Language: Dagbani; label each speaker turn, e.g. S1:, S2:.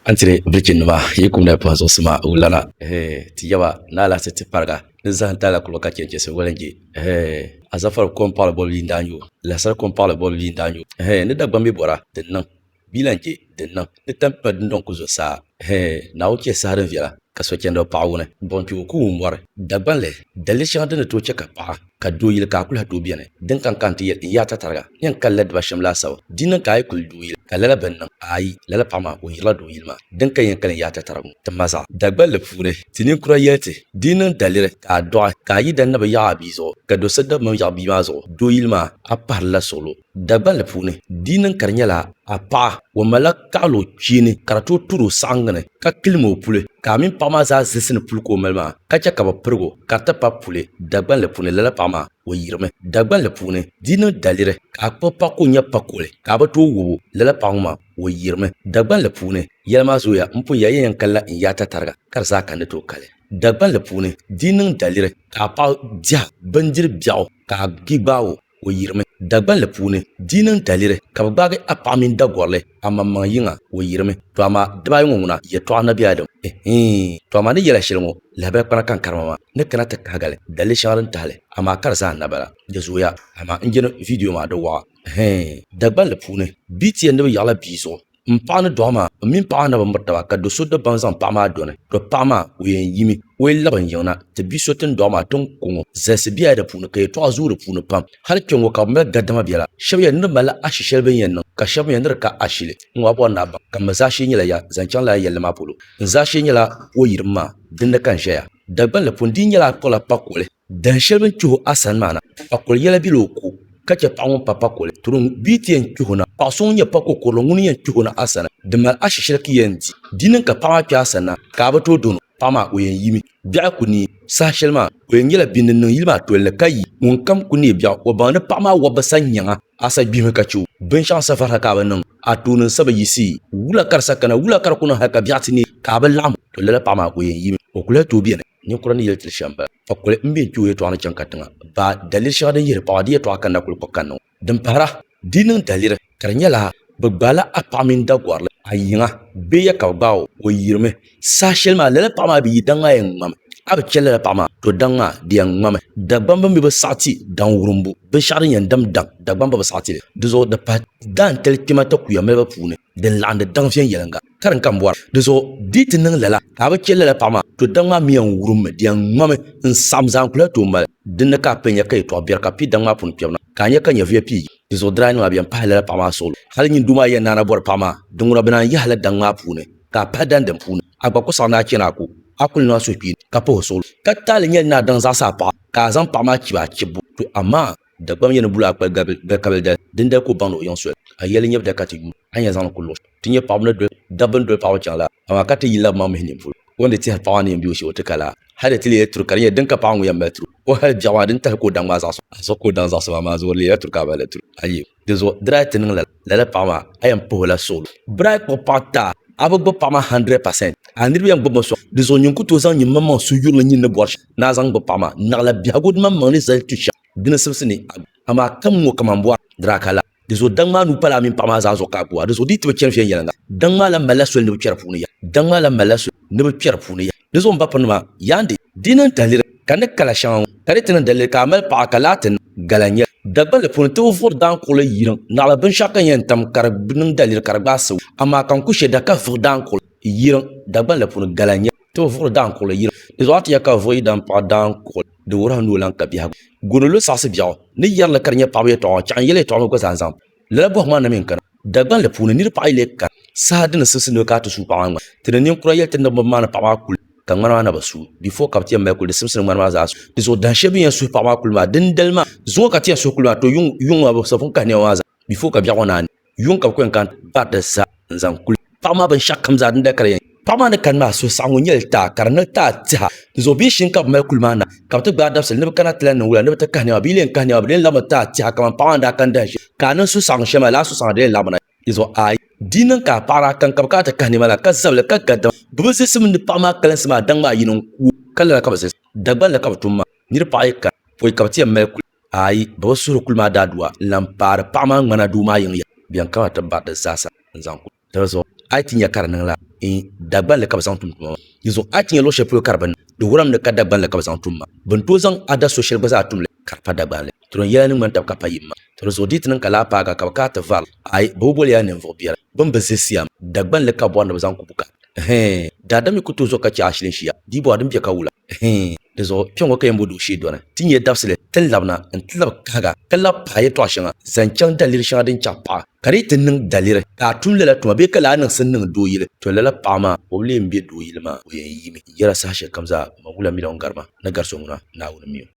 S1: Antiri birichin nima yi kum na puhi zuɣusi ma o lana. Eeh ti yaba ni alahichi ti pariga ni zahim taali kuluba ka chɛ chɛsi wali n-je. Eeh azafar kom paɣili bolibu yi ni daa nyo lahisar kom paɣili bolibu yi ni daa nyo eeh ni Dagbamb bi bɔra din niŋ bia lan je din niŋ ni tampima dundɔŋ ku zo saa eeh Naawuni chɛ saha din viɛla. ka so chɛndi o paɣa wuni, buɣim kpe o ka o mɔri. Dagbanli, daliri shɛŋa din ni tooi chɛ ka paɣa ka doo yili ka a kul lahi tooi beni din ka n ka nti yɛli n yaata tariga ni yɛn kali la diba shɛm laasabu. Di niŋ ka a yi kuli doo yili ka lala bi ni niŋ, aai, lala paɣa maa o yirila doo yili maa din ka yɛn kali n yaata tarigu ŋɔ. Ti ma zaɣ. Dagballi puuni, ti ninkura yɛli ti, di yi niŋ daliri ka a dɔɣi ka a yidana bi yaɣi a bia zuɣu ka do so dabimam yaɣi bia maa zuɣu, doo yili maa, a pahirila suɣulo. Dagban li puuni, di niŋ ka di nyɛla a paɣa o malila kaɣili o kpee ni ka di tooi turi o saɣingi ni ka kilim o puli ka a mini paɣa maa zaa zilisi ni puli ka o mali maa ka chɛ ka bɛ pirig o ka di ti pa puli Dagban li puuni, lala paɣa maa o yirimi Dagban li puuni, di niŋ daliri ka a kpuɣi paɣa ka o nya pa kuɣili ka a bi tooi wɔb o, lala paɣa ŋɔ maa o yirimi Dagban li puuni, yɛli maa zooya m pun ya ya yɛn kalila n yaata tariga ka di zaa ka n ni tooi kali Dagban li puuni, di niŋ daliri ka a paɣa diha bindiri biɛɣu ka a gbi gbaai o. O yirimi Dagbanli puuni dii niŋ daliri ka bɛ gbaagi a paɣa mini Dagɔrili amaŋmaŋ yiŋa o yirimi to amaa dibaayi ŋɔ ŋuna yɛtɔɣa Nabi Adam ihiin to amaa ni yɛla shɛli ŋɔ lahabali kpana ka n karima maa ni kana ti kahigali daliri shɛŋa din tahili amaa ka di zaa na bala di zooya amaa n jini vidiyo maa di waɣa ihiin Dagbanli puuni bts ni bɛ yaɣila bia zuɣu n paɣa ni doɣa maa n mini paɣa maa na bi miri taba ka do so dabaŋ zaŋ paɣa maa doni to paɣa maa o yɛn yimi o yi labi n yiŋ na ti bia so tin doɣa maa ti ni ku ŋo zalisi biɛla di puuni ka yɛltɔɣa zooi di puuni pam hali kpɛ ŋo ka bi mali gadama biɛla shab yɛli ni di malila ashi shɛli bi ni yɛn niŋ ka shab mi yɛli ni di ka ashili n ŋo a bori ni a baŋ ka n mi zaashee nyɛla ya zaŋ chaŋ lala yɛlli maa polo n zaashee nyɛla o yirim maa dinni ka n ʒɛya dagbanli pun di yi nyɛla a kpuɣila kpakoli Dahin shɛli bini kpih o a sani maa na, pakoli yɛla bela o ko ka chɛ paɣ ŋun pa pakoli. Tiri ŋ bia ti yɛn kpih o na. Paɣ so ŋun nyɛ pakokurili ŋuni yɛn kpih o na a sani, di mali ashi shɛli ki yɛn di. Di niŋ ka paɣ maa kpih a sani na, ka a bi tooi dɔn o, paɣ maa o yɛn yimi. Biɛɣu ku neei saha shɛli maa, o yɛn nyɛla bini din niŋ yili maa toli ni ka yi. Ŋunkam ku neei biɛɣu, o baŋ ni paɣ maa wɔb bi sani nyaŋ a, a sa gbihimi ka chɛ o. Binshɛɣu n-sa varisa ka a bi niŋ, a tooni n-sa bi yiɣisi. Wula ka di sa kana, wula ka di ku niŋ hal ka biɛɣu ti neei ka a bi laɣim o, tɔ lala paɣ maa o yɛn yimi, o ku lahi tooi beni. Ninkura ni yeli ti shɛm bala. Fa kuli m be n kpi o yɛltɔɣa ni chaŋ katiŋa. Baa, daliri shɛŋa din yihiri paɣaba di yɛltɔɣa kanna kuli kpuɣi kanna ŋɔ. Din pahira, di yi niŋ daliri ka di nyɛla bɛ gbaai la a paɣa mini Dagɔrili a yiŋa bee ya ka bɛ gbaai o, o yirimi. Saha shɛli maa lala paɣa maa bi yi daŋ a yɛn ŋmami. A bi chɛ lala paɣa maa, to daŋ a di yɛn ŋmami. Dagbam bini bi bi saɣi ti daŋ wurimbu, binshɛɣu din yɛn dam daŋ, Dagbamba bi saɣi ti li. Di zuɣu di pahi daantali kpɛma takuya maliba puuni. din laɣindi daŋ viɛnyɛliŋga ka di ni ka m bɔri. Dinzuɣu di yi ti niŋ lala ka a bi chɛ lala paɣ maa, to daŋ maa mi yɛn wurimmi di yɛn ŋmami n-saɣim zaa n-kul lahi tooi mali. Din ni ka a pun nya ka yɛtɔɣ biɛri ka pi daŋ maa puuni kpɛbu na, ka a nya ka nyɛvuya pii yi. Dinzuɣu di daa niŋ a bi yɛn pahi lala paɣ maa suɣulo. Hal nyin doo maa yɛn naana bɔri paɣ maa, Diŋuna bɛ naan yahila daŋ maa puuni ka a pahi daŋ din puuni. A gba kɔsaɣ ni a chani a ko, a kul niŋ a suhukpeeni ka pahi o suɣulo. Ka taali nyɛli ni a daŋ zaɣisi a paɣa ka a zaŋ paɣ maa chibi a chibbu, to amaa! Dagbamba yɛn ni bula akpali gari kabili dali din dali ka o baŋ ni o yiŋ soli a yɛli nyɛbu dali ka ti yuun a yɛn zaŋli kuli luɣi shɛli ti nyɛ paɣaba ni doli dabba ni doli paɣaba chaŋ la amaa ka ti yinla bi maŋ mihi nini polo o ni tihiri paɣa maa ni yɛn bɛ o shee o ti ka la hali di ti leela turi ka di nyɛ din ka paɣa ŋɔ yɛn mali turi o hali biɛɣu maa di ni tahili ka o daŋ maa zaɣa so a zuɣu ka o daŋ zaɣa so maa maa zuɣu di leela turi ka a mali turi a yɛli di zuɣu di daa ti niŋ lala. lala paɣa maa a yɛn puhi o la suɣulo bira a kpuɣi paɣa taa a bi gbubi paɣa maa hundred percent a niriba yɛn gbubimi sɔŋ di zuɣu nyin ku tooi zaŋ nyin maŋ maŋ suhi yurili nyin ni bɔri shɛm ni a zaŋ gbubi paɣa maa naɣila biɛhigu di maŋ maŋ ni zali tu shɛm di ni sibisi ni a amaa kam ŋɔ kaman bɔri dira ka laa di zuɣu daŋ maa nuu pala a mini paɣa maa zaa zuɣu ka a kuwa di zuɣu di yi ti bi chani viɛnyɛliŋga daŋ maa lan malila soli ni bi kpɛri puuni yaha daŋ maa lan malila soli ni bi kpɛri puuni yaha di zuɣu m ba pirinima yaandi Di niŋ taliri ka ni kala shɛŋa ŋɔ, ka di ti niŋ daliri ka a mali paɣa ka laati niŋ gala nyɛli. Dagbanli puuni ti bi vuɣiri daankuɣili yiriŋ naɣila binshɛɣu ka ni yɛn tam ka di niŋ daliri ka di gbaai sibu, amaa ka n ku shɛda ka vuɣi daankuɣili yiriŋ Dagbanli puuni gala nyɛli. Ti bi vuɣiri daankuɣili yiriŋ. Di zuɣu a ti yɛli ka bɛ vuɣi yidana paɣa daankuɣili, di wuhiri a ni o lan ka biɛhigu. Goonolo saɣisi biɛɣu ni yɛri li ka di nyɛ paɣibu yɛtɔɣa ŋɔ, chɛɣu n-yɛli yɛtɔɣa ŋɔ gba zaa zaŋ pa. Lala bɔhu maa na mi n-kana Dagbanli puuni nir paɣ yi leei kani saha di ni simsi ni bɛ ka a ti suui paɣ maa ŋmani. Ti ni ninkura yɛli ti ni bimba maa ni paɣ maa kuli ka ŋmani maa na bi suui before ka bɛ ti yɛn mali kuli di simsi ni ŋmani maa zaa suui. Di zuɣu dahin shɛli bɛ ni yɛn suui paɣ maa kuli maa dindali maa zuŋɔ ka ti yɛn suui kuli maa too yuŋ maa bɛ sabi pun kahi nɛma maa zaa before ka biɛɣu ŋɔ naai ni yuŋ ka bɛ ku yɛn kana baari di zaa n-zaŋ kuli paɣa maa binshɛɣu kam zaa din dakali yɛn paɣa maa ni kani maa suhusaɣingu nyɛla taa ka di niŋ taa tiha dinzuɣu bia shini ka bi mali kuli maa na ka bi ti gbaai dabisili ni bi kana ti lan niŋ wula ni bi ti kahi niɛma bia lee n kahi niɛma bi lee laɣimi taa tiha kamani paɣa maa ni daa kani dahin shɛli ka a niŋ suhusaɣingu shɛli maa lala suhusaɣingu di lee laɣimi na dinzuɣu ayi di yi niŋ ka a paɣa daa kani ka bi kana ti kahi niɛma la ka zabili ka ga dama bi bi zilisi mi ni paɣa maa kalinsi maa daŋ maa yini n ku ka lala ka bi zilisi Dagbaŋ la ka bi tum maa niriba paɣa yi kana pɔi ka bi ti yɛn mali kuli Aai, bɛ bi suhiri kuli maa daadua n-lan paari paɣ maa ŋmana duu maa yiŋ ya. Bɛn kana ti bari di zaasa n-zaŋ kuli. Dali zuɣu a yi ti nya ka di niŋ la in, Dagbanli ka bɛ zaŋ tum tuma maa. Yi zuɣu a yi ti nya luɣ shɛli polo ka di bi niŋ, di wurim ni ka Dagbanli ka bɛ zaŋ tum maa. Bɛ ni tooi zaŋ a da so shɛli gba zaa tum li ka di pa Dagbanli. To din yɛla ni ŋmani taba ka pa yim maa. To di zuɣu di yi ti niŋ ka laa paagi a ka bɛ kaai ti vari li, aai, bɛ bi boli ya ninvuɣ biɛla bɛn bi zilisi ya maa. Dagbanli ka bɔri ni bɛ zaŋ ku bukaata. Hee, daa dami ku tooi zo ka chɛ ashili n-shia, di yi bɔha din bɛ ka wula. Hee, di zuɣu kpe ŋɔ ka yɛn bo duɣu shee dɔni, ti nyɛ dabisili ti ni labina n-ti labi kahiga ka labi pahi yɛtɔɣ shɛŋa zaŋ chaŋ daliri shɛŋa din chaɣ paɣa ka di yi ti niŋ daliri ka a tum lala tuma bee ka lahi niŋsim niŋ doo yili, to lala paɣa maa o bi leei m-be doo yili maa o yɛn yiimi n-yɛra sahashɛlikam zaa, Mawula mi la ŋun gari ma ni gari so ŋuna, Naawuni mi o.